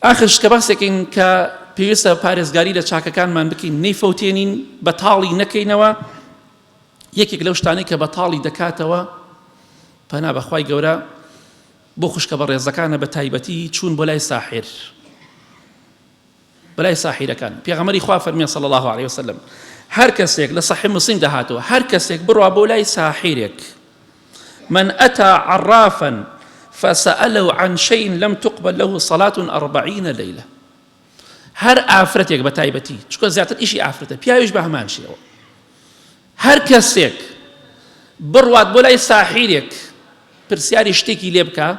ئاخر شتە باسێکین کە پێویستە پارێزگاری لە چاکەکانمان بکەین نەیفەوتێنین بە تاڵی نەکەینەوە یەکێک لەو شتانەی کە بە تاڵی دەکاتەوە پەنا بەخوای گەورە بۆ خوشکە بە ڕێزەکانە بە تایبەتی چوون بۆ لای ساحر بەلای ساحیرەکان پێغەمەری خوا فەرمیە صلی الله عليه وسلم هەر کەسێک لە صحیح مسلم دەهاتەوە هەر کەسێک بڕوا بۆ لای ساحیرێک من اتى عرافا فساله عن شئ لم تقبل له صلاة اربعین لیلە هەر ئافرەتێک بە تایبەتی چکە زیاتر ئیشی ئافرەتە پیاویش بە هەمان شێوە هەر کەسێک بڕوات بۆ لای ساحیرێک پرسیاری شتێکی لێ بکە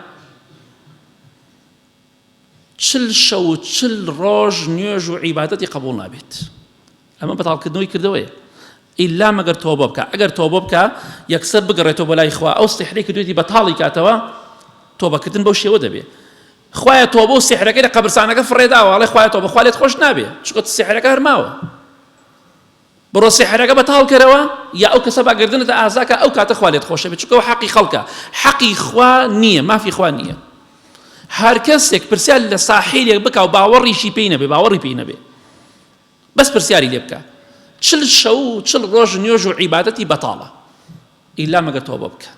چل شەو و چل ڕۆژ نوێژ و عیبادەتی قبوڵ نابێت ئەمە بەتاڵکردنەوەی کردەوەیە ئیلا مەگەر تۆبە بکە ئەگەر تۆبە بکە یەکسەر بگەڕێتەوە بە لای خوا ئەو سحرێک دوێتی بەتاڵی کاتەوە تۆبەکردن بەو شێوە دەبێت خوایە تۆ بۆ سحرەکەی لە قەبرسانەکە فڕێداوەڵێ خوای تۆ بەخوالێت خۆش نابێ چکت سحرەکە هەرماوە بڕۆ سیحرەکە بەتاڵ کەرەوە یا ئەو کەسە با گەردنت ئازاکا ئەو کاتە خوا لێت خۆشەبێت چونکە ئەوە حەقی خەڵکە حەقی خوا نییە مافی خوا نییە هەر کەسێک پرسیار لە ساحیرێک بکا و باوەڕیشی پێی نەبێ باوەڕی پێی نەبێ بەس پرسیاری لێ بکە چل شەو و چل ڕۆژ نوێژ و عیبادەتی بەتاڵە ئیلا مەگەر تۆبە بکە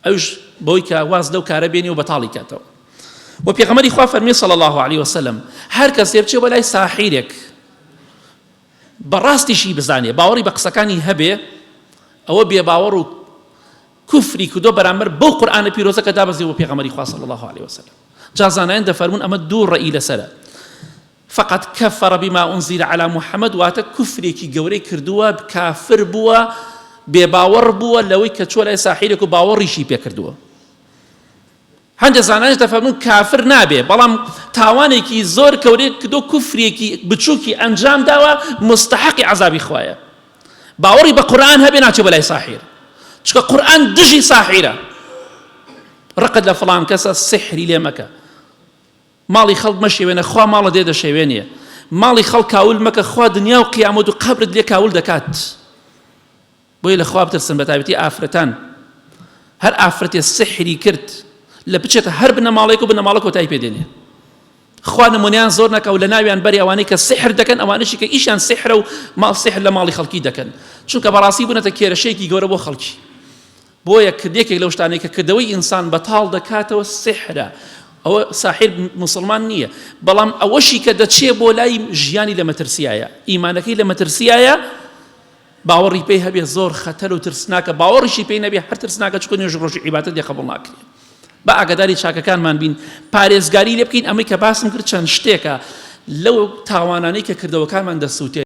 ئەویش بەوەی کە واز لەو کارە بێنی و بەتاڵی کاتەوە و پێغەمەری خوا فەرمی صلی الله علیه وسلم هەر کەس لێ بچێ بەلای ساحیرێک بەڕاستیشی بزانێ باوەڕی بە قسەکانی هەبێ ئەوە بێ باوەڕ و کوفری کردو بەرامبەر بەو قورآانە پیرۆزە کە دابەزی و پێغەمەری خوا صلی الله علیه وسلم جازانایان دەفەرمون ئەمە دوو ڕێی لەسرە فقد کفر بما انزل علی محمد واتە کفرێکی گەورەی کردووە کافر بووە بێ باوەڕ بووە لەوەی کە چۆ لای ساحیرێک و باوەڕیشی پێکردووە هەندێک زانایش دەفەرمون کافر نابێ بەڵام تاوانێکی زۆر کەورێک کردو کوفرێکی بچووکی ئەنجام داوە مستحقی عذابی خوایە باوەڕی بە قورآن هەبێ ناچێ بەلای ساحیر چکە قورآن دژی ساحیرە ڕقت لە فڵان کەسە سحری لێ مەکە ماڵی خەڵک مەشێوێنە خوا ماڵە دێ دەشێوێنێ ماڵی خەڵک کاول مەکە خوا دنیا و قیامەت و قەبرت لێ کاول دەکات بۆیە لە خوا بترسن بە تابەتی ئافرەتان هەر ئافرەتێ سحری کرد لە بچێتە هەر بنەماڵێک و بنەماڵە کۆتای پێدێنێ خوا نمونیان زۆر نەکە و لە ناویان بەری ئەوانەی کە سحر دەکەن ئەوانشی کە ئیشان سحرە و ماڵ سحر لە ماڵی خەڵکی دەکەن چونکە بەڕاستی بوونەتە کێرەشێکی گەورە بۆ خەڵکی بۆیە کرد یەکێک لەو شتانەی کە کردەوەی ئینسان بەتاڵ دەکاتەوە سحرە ئەوە ساحر موسڵمان نییە بەڵام ئەوەشی کە دەچێ بۆ لای ژیانی لە مەترسیایە ئیمانەکەی لە مەترسیایە باوەڕی پێی هەبێ زۆر خەتەر و ترسناکە باوەڕیشی پێی نەبێ هەر ترسناکە چکە نوێژ ڕۆژی عیباتە دێ قبول ناکرێ بە ئاگداری چاکەکانمان بین پارێزگاری لێ بکەین ئەمەی کە باسم کرد چەند شتێکە لەو تاوانانەی کە کردەوەکانمان دەسووتێت